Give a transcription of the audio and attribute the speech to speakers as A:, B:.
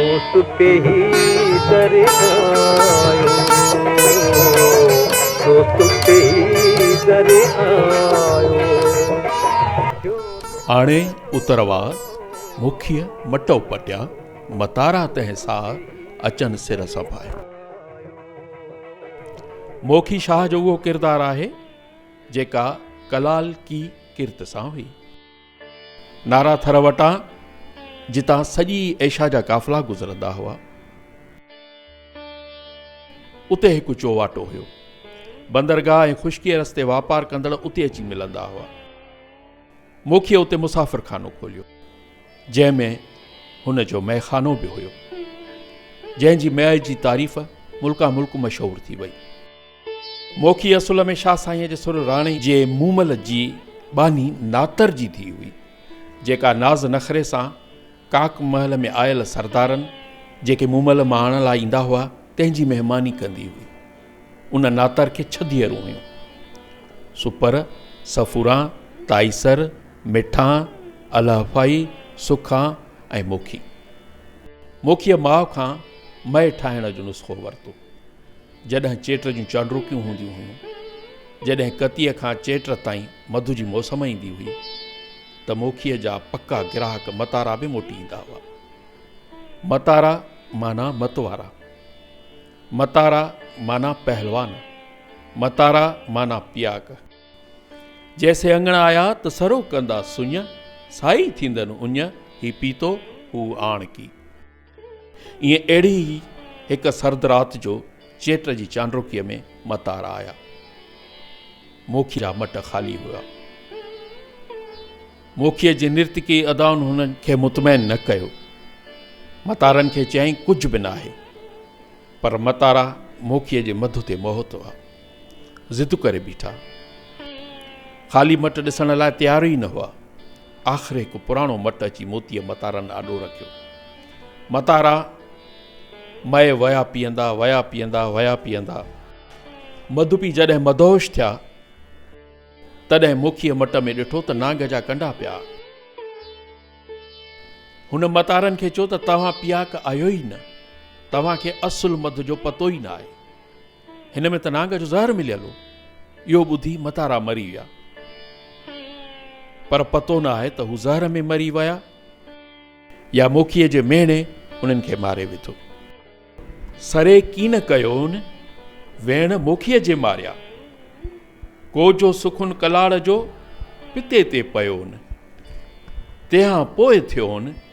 A: دوست
B: پي هي در آيو دوست پي هي در
C: آيو آڻي اتروا مکي مٽو پٽيا متارا تنهن سا اچن سر سڀائي موکي شاهه جو اهو ڪردار آهي جيڪا ڪلال ڪي ڪرت سان هئي نارا ٿر وٽان جتان سڄي ايشا جا قافلا گذرندا هئا. اتي هڪ چوواٽو هيو. بندرگاهه ۽ خشڪيء رستي واپار ڪندڙ اتي اچي ملندا هئا. موکيء اتي مسافر خانو کوليو، جنهن ۾ هن جو مئي خانو به هيو، جنهن جي مئي جي تعريف ملڪان ملڪ مشهور ٿي وئي. موکي اصل ۾ شاهه سائينء جي سر راڻي جي مومل جي ٻانهي ناتر جي ڌيء هئي، جيڪا ناز نخري سان ڪاڪ محل ۾ آيل سردارن، جيڪي مومل مهاڻ لاء ايندا هئا، تنهن جي مهماني ڪندي هئي. ان ناتر کي ڇهه ڌيئرون هيون، سپر، سفوران، تائيسر، مٺان، الهفائي، سکان ۽ موکي. موکيء ماء کان مئي ٺاهڻ جو نسخو ورتو. جڏهن چيٽ جون چانڊروڪيون هونديون هيون، جڏهن ڪتيء کان چيٽ تائين مڌو جي موسم ايندي هئي ته موکيء جا پڪا گراهڪ متارا به موٽي ايندا هئا. متارا معنيٰ متوارا، متارا معنيٰ پهلوان، متارا معنيٰ پياڪ. جيسين اڱڻ آيا ته سرو ڪندا سڃ، سائي ٿيندن اڃ، هي پيتو هو آڻڪي. ائين اهڙي ئي هڪ سرد رات جو چيٽ جي چانڊوڪيء ۾ متار آيا. موکيء جا مٽ خالي هيا. موکيء جي نرتڪي ادائن هن کي مطمئن نه ڪيو. متارن کي چيائين ڪجهه به ناهي. پر متارا موکيء جي مڌ تي موهت هئا. ضد ڪري بيٺا. خالي مٽ ڏسڻ لاء تيار ئي نه هئا. آخر هڪ پراڻو مٽ اچي موتيء متارن آڏو رکيو. متارا مئي ويا پيئندا، ويا پيئندا، ويا پيئندا. مڌوپي جڏهن مدهوش ٿيا، تڏهن موکيء مٽ ۾ ڏٺو ته نانگ جا ڪنڊا پيا. هن متارن کي چيو ته توهان پياڪ آهيو ئي نه. توهان کي اصل مڌ جو پتو ئي نه آهي. هن ۾ ته نانگ جو زهر مليل هو. اهو ٻڌي متارا مري ويا. پر پتو نه آهي ته هو زهر ۾ مري ويا يا موکيء جي ميڻي انهن کي ماري وڌو. سري ڪين ڪيون ويڻ موکيء جي ماريا. ڪوجهو سخن ڪلاڙ جو پتي تي پيون. تنهان پوء ٿيون.